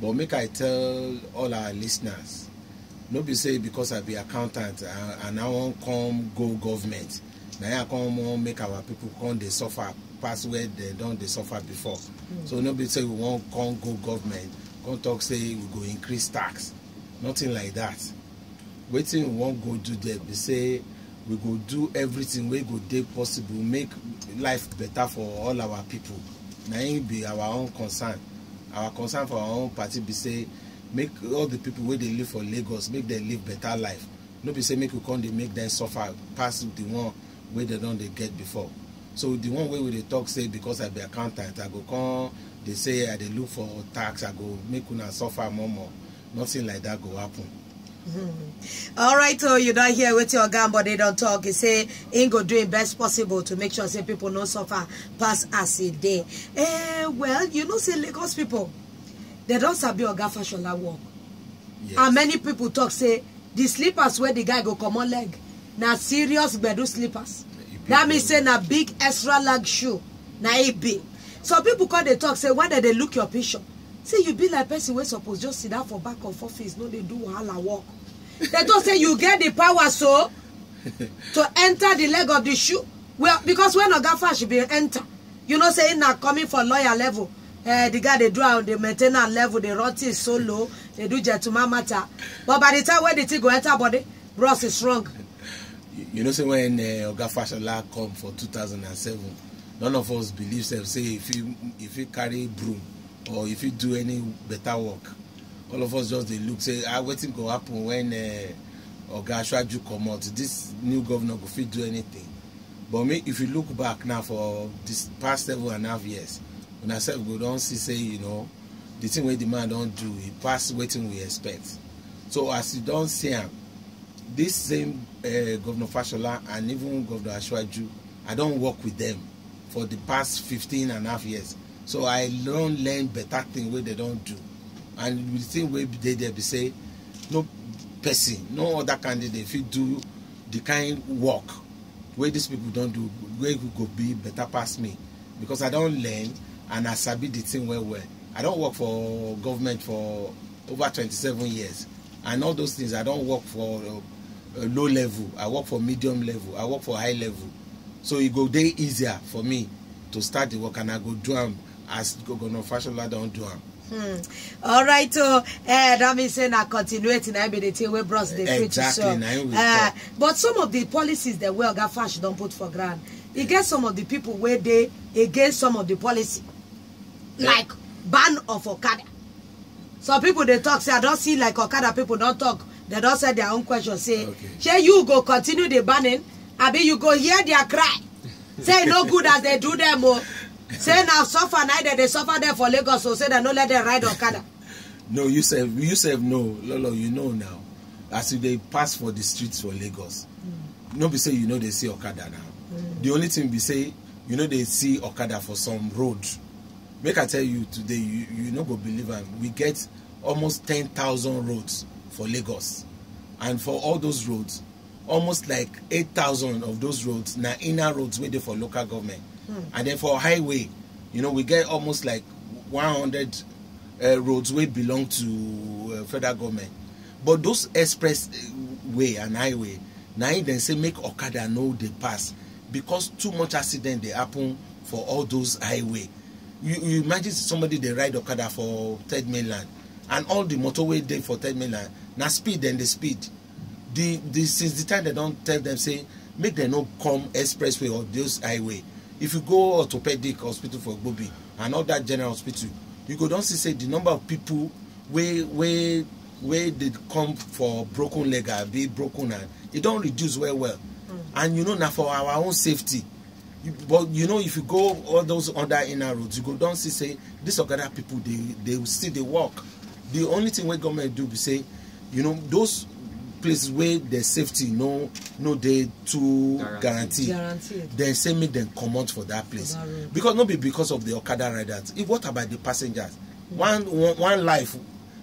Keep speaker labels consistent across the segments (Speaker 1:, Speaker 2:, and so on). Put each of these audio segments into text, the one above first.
Speaker 1: but make i tell all our listeners no be say because i be accountant uh, and i wan come go government na him i come wan make our people come dey suffer pass where dem don dey suffer before so no be say we wan come go government come talk say we go increase tax nothing like that wetin we wan go do there be say we go do everything wey go dey possible make life better for all our people na im be our own concern our concern for our own party be say make all the people wey dey live for lagos make dem live better life no be say make we come dey make dem suffer pass the one wey dem don dey get before so the one wey we dey talk say because i be accountant i go come dey say i dey look for tax i go make una suffer more more nothing like that go happen. Mm-hmm. All right, so oh, you don't hear what your gun, but they don't talk. He say he go doing best possible to make sure say people no suffer pass as a day. Eh, well, you know, say Lagos people, they don't sabi oga fashola work. Yes. And many people talk say the slippers where the guy go come on leg. Now serious gbedu slippers. That means say na big extra leg shoe. Now it be. Some people call they talk say when they look your picture, Say you be like person wey suppose just sit down for back of office, no dey do wahala work. Dem talk say you get the power so to enter the leg of the shoe. Well, because when Oga Fash be enter, you know say na coming for lawyer level. Uh, the guy they do on the maintenance level, they run things so low, they do gentleman matter. But by the time when the thing go enter body, bros is wrong. You know, say when uh, Oga Fashola come for 2007, none of us believe sef say e fit e fit carry broom or e fit do any better work all of us just dey look say ah wetin go happen when uh, oga ashwaju comot this new governor go fit do anything but me if you look back now for this past seven and a half years una sef go don see say you know the thing wey the man don do e pass wetin we expect so as you don see am this same uh, governor fashola and even governor ashwaju I don work with them for the past 15 and half years. So I don learn better thing wey they don do. And the thing wey dey there be say no person, no other candidate fit do the kind work wey these people don do wey go be better pass me because I don learn and I sabi the thing well well. I don work for government for over 27 years and all those things I don work for uh, low level i work for medium level i work for high level so e go dey easier for me to start the work and i go do am as governor fashola don do am. Hmm. All right, so eh, that means say na continuity na be the thing wey bros dey preach Exactly, so. na im we Eh, talk. but some of the policies that wey Oga Fash don put for ground, e get some of the people wey dey against some of the policy, Yeah. like ban of Okada. some people dey talk say i don see like okada people don talk they don send their own question say Okay. shey you go continue the banning abi you go hear their cry say e no good as they do them o say na suffer na dem dey suffer them for lagos o say dem no let them ride okada no you sef you sef know lolo you know now as you dey pass for the streets for lagos mm. no be say you no dey see okada now mm. the only thing be say you no dey see okada for some road make i tell you today you you no go believe am we get almost ten thousand roads for lagos and for all those roads almost like eight thousand of those roads na inner roads wey dey for local government and then for highway you know we get almost like one hundred uh, roads wey belong to uh, federal government but those express uh, way and highway na im dem say make okada no dey pass because too much accident dey happen for all those highway you you imagine somebody dey ride okada for third mainland and all the motor wey dey for third mainland na speed dem dey speed the the since the time dem don tell them say make dem no come expressway or those highway if you go orthopedic hospital for gbobi and all that general hospital you go don see say the number of people wey wey wey dey come for broken leg abi broken hand e don reduce well well and you know na for our own safety you, but you know if you go all those other inner roads you go don see say these okada people dey dey still dey work the only thing wey government do be say you know those places wey their safety no no dey too Guaranteed. guaranteed Guaranteed. dem say make dem comot for that place that road. because no be because of the okada riders if what about the passengers one one, one life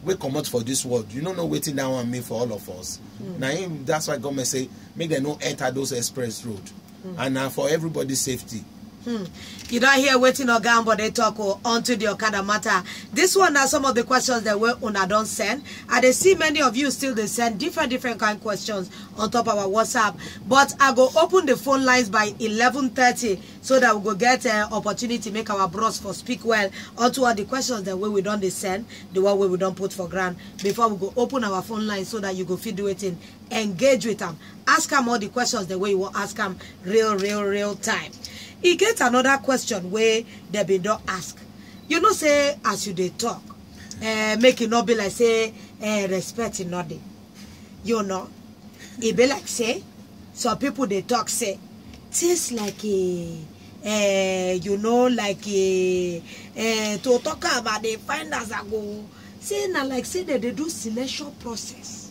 Speaker 1: wey comot for this world you no know wetin that one mean for all of us na him that's why government say make dem no enter those express road mm. and na for everybody safety Hmm. You don't hear waiting or gown, but they talk oh, onto the Okada matter. This one are some of the questions that were una don't send. And they see many of you still they send different different kind of questions on top of our WhatsApp. But I go open the phone lines by 11.30 so that we go get an uh, opportunity make our bros for speak well onto all the questions that way we don't they send, the one way we don't put for grant before we go open our phone lines so that you go feed waiting engage with am ask am all the questions dem wey you wan ask am real real real time e get another question wey dem bin don ask you know say as you dey talk eh, make e no be like say eh, respect e no dey you know e be like say some people dey talk say things like eh, eh, you know like eh, eh, to talk am i dey find as i go say na like say dem dey do selection process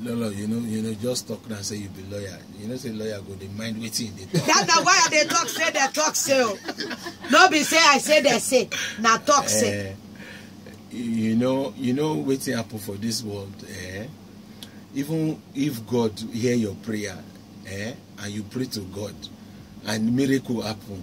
Speaker 1: no no you know you know just talk now say you be lawyer you know say lawyer go dey mind wetin you dey talk. that na why i dey talk say dey talk say o no be say i say dey say na talk say. Uh, you know you know wetin happen for this world eh? even if god hear your prayer eh? and you pray to god and miracle happen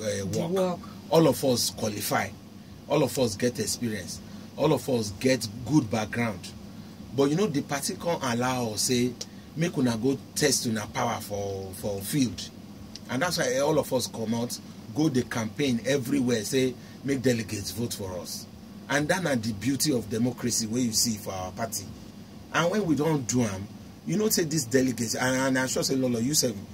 Speaker 1: uh, work. work. All of us qualify. All of us get experience. All of us get good background. But you know, the party can't allow us say, make una go test una power for for field. And that's why all of us come out, go the campaign everywhere, say, make delegates vote for us. And that na the beauty of democracy wey you see for our party. And when we don do am, you know say these delegates, and, and I'm sure say Lolo, you sef,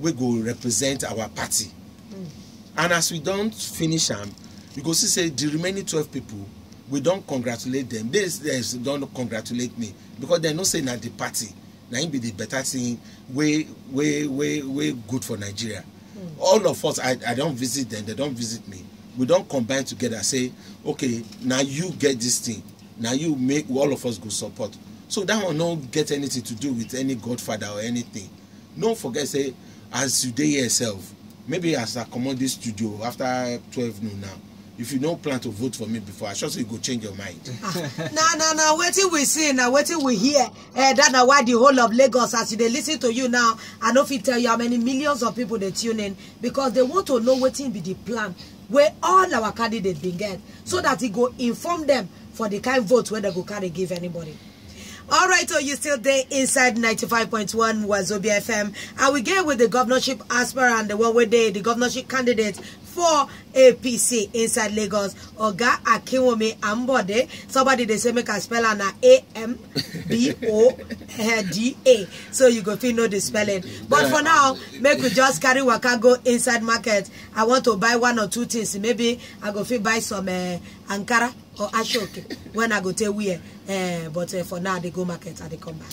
Speaker 1: wey go represent our party and as we don finish am you go see say the remaining twelve people we don congratulate them they they don congratulate me because they know say na the party na im be the better thing wey wey wey wey good for nigeria all of us i i don visit them they don visit me we don combine together say okay na you get this thing na you make all of us go support so that one no get anything to do with any godfather or anything no forget say as you dey here sef maybe as i comot this studio after twelve noon now if you no plan to vote for me before i sure say you go change your mind. na na na wetin we see na wetin we hear eh that na why the whole of lagos as you dey listen to you now i no fit tell you how many millions of people dey tune in because they want to know wetin be the plan wey all our candidates bin get so that e go inform them for the kind vote wey dem go carry give anybody. All right, so you still there inside 95.1 Wazobia FM. And we get with the governorship aspirant, the one with the, the governorship candidate for APC inside Lagos. Oga Akinwumi Ambode. Somebody they say make a spell and A M B O D A. So you go feel know the spelling. But for now, make we just carry waka go inside market. I want to buy one or two things. Maybe I go feel buy some uh, Ankara. or ashoke when i go tey wear eh but eh, for now i dey go market i dey come back